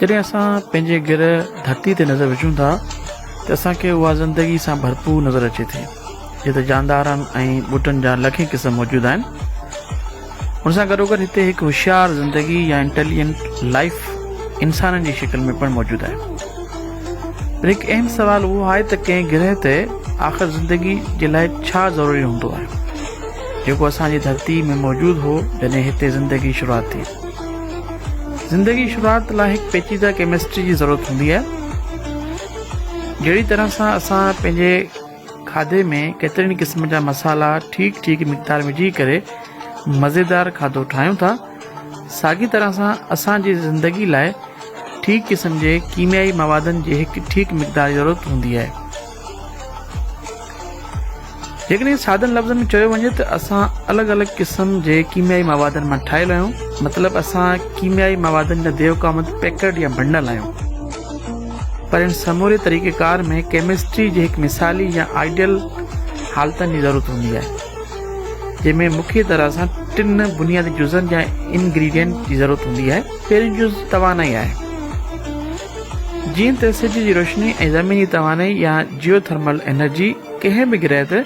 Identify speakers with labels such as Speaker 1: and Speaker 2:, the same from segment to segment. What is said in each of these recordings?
Speaker 1: جڏهن اسان پنهنجي گرهه ڌرتي تي نظر وجهون ٿا ته اسان کي اها زندگي سان ڀرپور نظر اچي ٿي جتي جاندارن ۽ ٻوٽن جا لکين قسم موجود آهن ان سان گڏوگڏ هتي هڪ هوشيار زندگي يا انٽيليجنٽ لائيف انسانن جي شڪل ۾ پڻ موجود آهي. پر هڪ اهم سوال اهو آهي ته ڪنهن گرهه تي آخر زندگي جي لاء ڇا ضروري هوندو آهي؟ جيڪو اسان جي ڌرتي ۾ موجود هو جڏهن هتي زندگي شروعات ٿي. زندگي شروعات لاء هڪ پيچيده ڪيمسٽري جي ضرورت هوندي آهي. جهڙي طرح سان اسان پنهنجي کاڌي ۾ ڪيترن ئي قسمن جا مصالحا ٺيڪ ٺيڪ مقدار وجهي ڪري مزيدار کاڌو ٺاهيون ٿا ساڳي طرح سان اسان جي زندگي لاء ٺيڪ قسم جي ڪيميائي موادن جي هڪ ٺيڪ مقدار جي ضرورت هوندي آهي جيڪڏهن سادن لفظن ۾ چيو وڃي ته اسان الڳ الڳ قسم جي ڪيميائي موادن مان ٺاهيل آهيون مطلب اسان ڪيميائي موادن جا ديو ڪامت پيڪرڊ يا بنڊل آهيون پر ان سموري طريقيڪار ۾ ڪيمسٽري جي هڪ مثالي يا آئيڊيل حالتن جي ضرورت هوندي آهي، جنهن ۾ مکيه طرح سان ٽن بنيادي جزن يا انگريڊينٽ جي ضرورت هوندي آهي. پهريون جز توانائي آهي. جيئن ته سج جي روشني ۽ زميني توانائي يا جيو ٿرمل انرجي ڪنهن به گرهه تي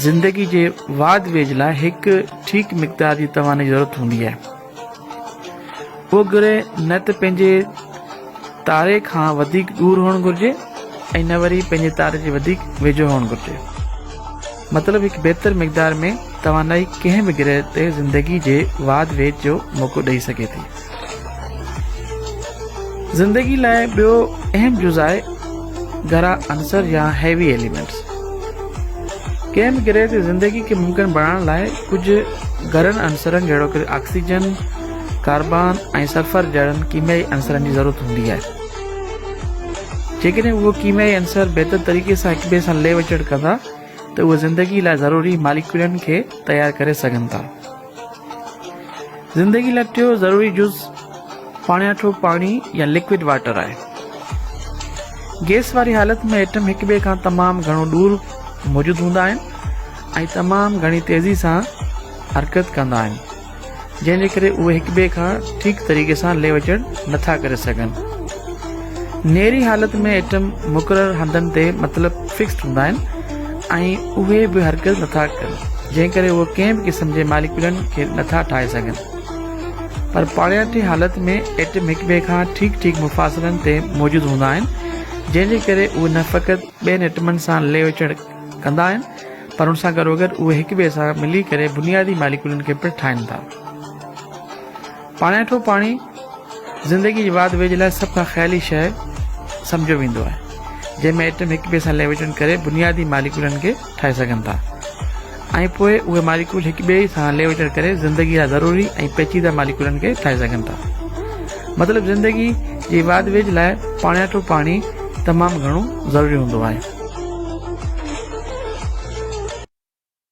Speaker 1: زندگي جي واڌ ويجهه لاء هڪ ٺيڪ مقدار جي توانائي جي ضرورت هوندي آهي. اهو گرهه نه ته پنهنجي تاري کان وڌيڪ ڏور هئڻ گهرجي ۽ نه وري پنهنجي تاري جي وڌيڪ ويجهو هئڻ گهرجي. مطلب هڪ بهتر مقدار ۾ توانائي ڪنهن به گرهه تي زندگي جي واڌ ويجهه جو موقعو ڏئي سگهي ٿي. زندگي لاء ٻيو اهم جز آهي گهرا عنصر يا Heavy Elements. ڪنهن به گرهه تي زندگي کي ممڪن بڻائڻ لاء ڪجهه گهرن عنصرن جهڙوڪ آڪسيجن، ڪاربان ۽ سلفر جهڙن ڪيميائي عنصرن جي ضرورت هوندي آهي. جيڪڏهن اهي ڪيميائي عنصر بهتر طريقي سان هڪٻئي سان لهه وچڙ ڪندا ته اهي زندگي لاء ضروري ماليڪيولن کي تيار ڪري سگهن ٿا. زندگي لاء ٽيون ضروري جز پاڻياٺو پاڻي يا لڪوڊ واٽر آهي. گيس واري حالت ۾ ايٽم هڪ ٻئي کان تمام گهڻو ڏور موجود هوندا آهن ۽ تمام گهڻي تيزي سان حرڪت ڪندا آهن جنهن جي ڪري اهي هڪ ٻئي کان ٺيڪ طريقي سان ليوچڙ نٿا ڪري سگهن. نيري حالت ۾ ايٽم مقرر هنڌن تي مطلب فڪسڊ هوندا آهن ۽ اهي به هرگز نٿا ڪن جنهن ڪري اهي ڪنهن به قسم جي ماليڪيولن کي نٿا ٺاهي سگهن. پر پاڻياٺي حالت ۾ ايٽم هڪٻئي کان ٺيڪ ٺيڪ مفاصلن تي موجود هوندا آهن جنهن جي ڪري اهي نه فقط ٻين ايٽمن سان لهه چڙهه ڪندا آهن پر ان سان گڏوگڏ اهي هڪٻئي سان ملي ڪري بنيادي ماليڪيولن کي پڻ ٺاهين ٿا. پاڻيٺو پاڻي زندگيء جي واڌ ويجهه لاء سڀ کان خيالي شيء سمجهيو ويندو آهي، جنهن ۾ ايٽم هڪ ٻئي سان ليويٽينڊ ڪري بنيادي ماليڪولن کي ٺاهي سگهن ٿا ۽ پوء اهي ماليڪول هڪ ٻئي سان ليويٽينڊ ڪري زندگيء لاء ضروري ۽ پيچيده ماليڪولن کي ٺاهي سگهن ٿا. مطلب زندگيء جي واڌ ويجهه لاء پاڻيٺو پاڻي تمام گهڻو ضروري هوندو آهي.